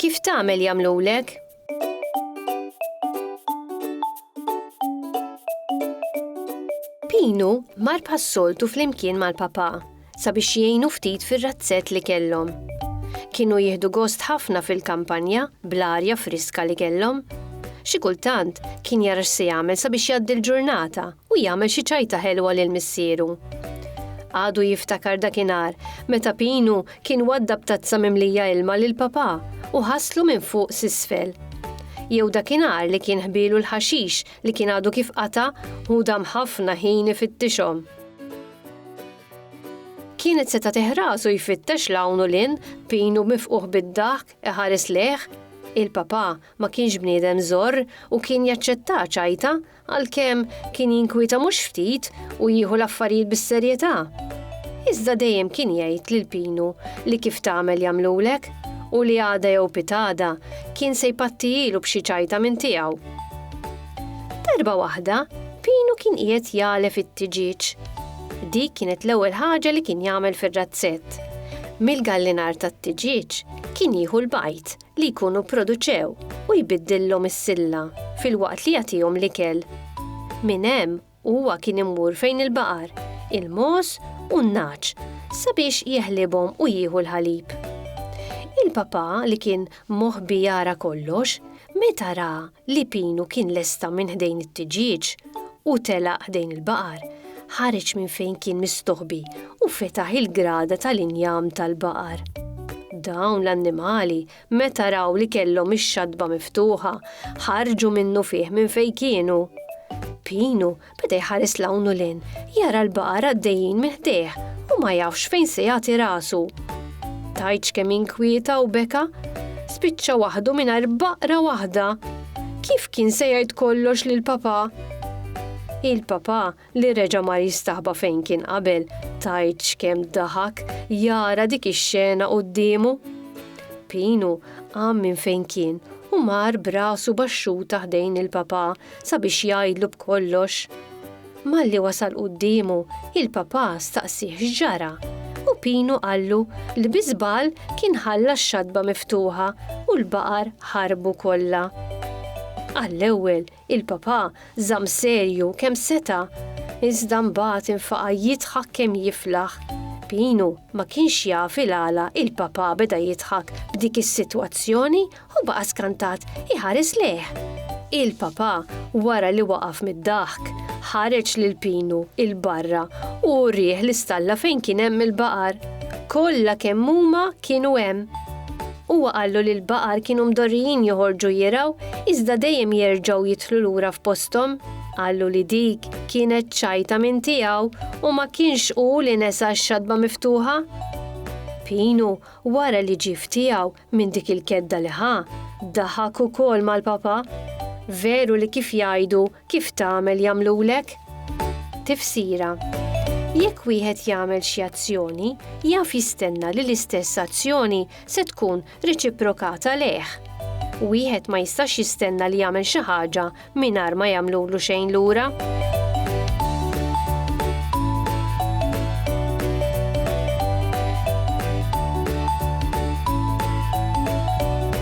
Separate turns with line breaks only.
Kif tagħmel jagħmlulek? Pinu mar bħas-soltu flimkien mal-papà. sabiex jgħinu ftit fir-razzett li kellhom. Kienu jieħdu gost ħafna fil-kampanja bl-arja friska li kellhom. Xi kultant kien jara x'se jagħmel sabiex jgħaddi l-ġurnata u jagħmel xi ċajta ħelwa lil missieru. Għadu jiftakar dakinhar meta Pinu kien waddab tazza mimlija ilma lil papà u ħaslu minn fuq s'isfel jew dakinhar li kien ħbielu l-ħaxix li kien għadu kif qata' u dam ħafna ħin ifittixhom. Kienet se tagħtih rasu jfittex l hawn u lin, pinu mifquħ bid-daħk, iħares lejh. Il-papà ma kienx bniedem żorr u kien jaċċetta ċajta, għalkemm kien jinkwieta mhux ftit u jieħu l-affarijiet bis-serjetà. Iżda dejjem kien jgħid lil Pinu li kif tagħmel jagħmlulek u li għada jew pitgħada kien se jpattijielu b'xi ċajta minn tiegħu. Darba waħda, Pinu kien qiegħed jagħlef it-tiġieġ. Dik kienet l-ewwel ħaġa li kien jagħmel fir-razzett. Mill-gallinar tat-tiġieġ kien jieħu l-bajd li jkunu pproduċew u jbiddillhom is-silla filwaqt li jagħtihom l-ikel. Minn hemm u huwa kien immur fejn il-baqar, il-mogħoż u n-nagħaġ sabiex jeħlibhom u jieħu l-ħalib. Il-papà li kien moħbi jara kollox, meta ra li Pinu kien lesta minn ħdejn it-tiġieġ u telaq ħdejn il-baqar, ħareġ minn fejn kien mistoħbi u fetaħ il-grada tal-injam tal-baqar. Dawn l-annimali Meta raw li kellhom ix-xatba miftuħa, ħarġu minnufih minn fejn kienu. Pinu beda jħares 'l hawn u 'l hinn, jara l-baqar għaddejjin minn ħdejh u ma jafx fejn se jagħti rasu. Tgħidx kemm inkwieta u beka. Spiċċa waħdu mingħajr baqra waħda! Kif kien se jgħid kollox lill-papà? Il-papà li reġa' mar jistaħba fejn kien qabel, tgħidx kemm daħak jara dik ix-xena quddiemu! Pinu qam minn fejn kien u mar b'rasu baxxuta ħdejn il-papà sabiex jgħidlu b'kollox. Malli wasal quddiemu, il-papà staqsieh x'ġara u Pinu qallu li bi żball kien ħalla x-xatba miftuħa u l-baqar ħarbu kollha. Għall-ewwel Il-Papa żamm serju kemm seta', iżda mbagħad infaqa' jidħak kemm jiflaħ. Pinu ma kienx jaf il-għala il-Papa beda jidħak b'dik is-sitwazzjoni u baqa' skantat iħares lejh. Il-Papa wara li waqaf mid-daħk, ħareġ lil Pinu 'l barra u urieh l-istalla fejn kien hemm il-baqar. Kollha kemm huma kienu hemm. Huwa qallu li l-baqar kienu mdorrijin joħorġu jirgħu iżda dejjem jerġgħu jidħlu lura f'posthom. Qallu li dik kienet ċajta minn tiegħu u ma kienx hu li nesa x-xatba miftuħa. Pinu, wara li ġie f'tiegħu minn dik il-kedda li ħa, daħak ukoll mal-papà. Veru li kif jgħidu, Kif tagħmel jagħmlulek? Tifsira, Jekk wieħed jagħmel xi azzjoni, jaf jistenna li l-istess azzjoni se tkun reċiprokata lejh. Wieħed ma jistax jistenna li jagħmel xi ħaġa mingħajr ma jagħmlulu xejn lura.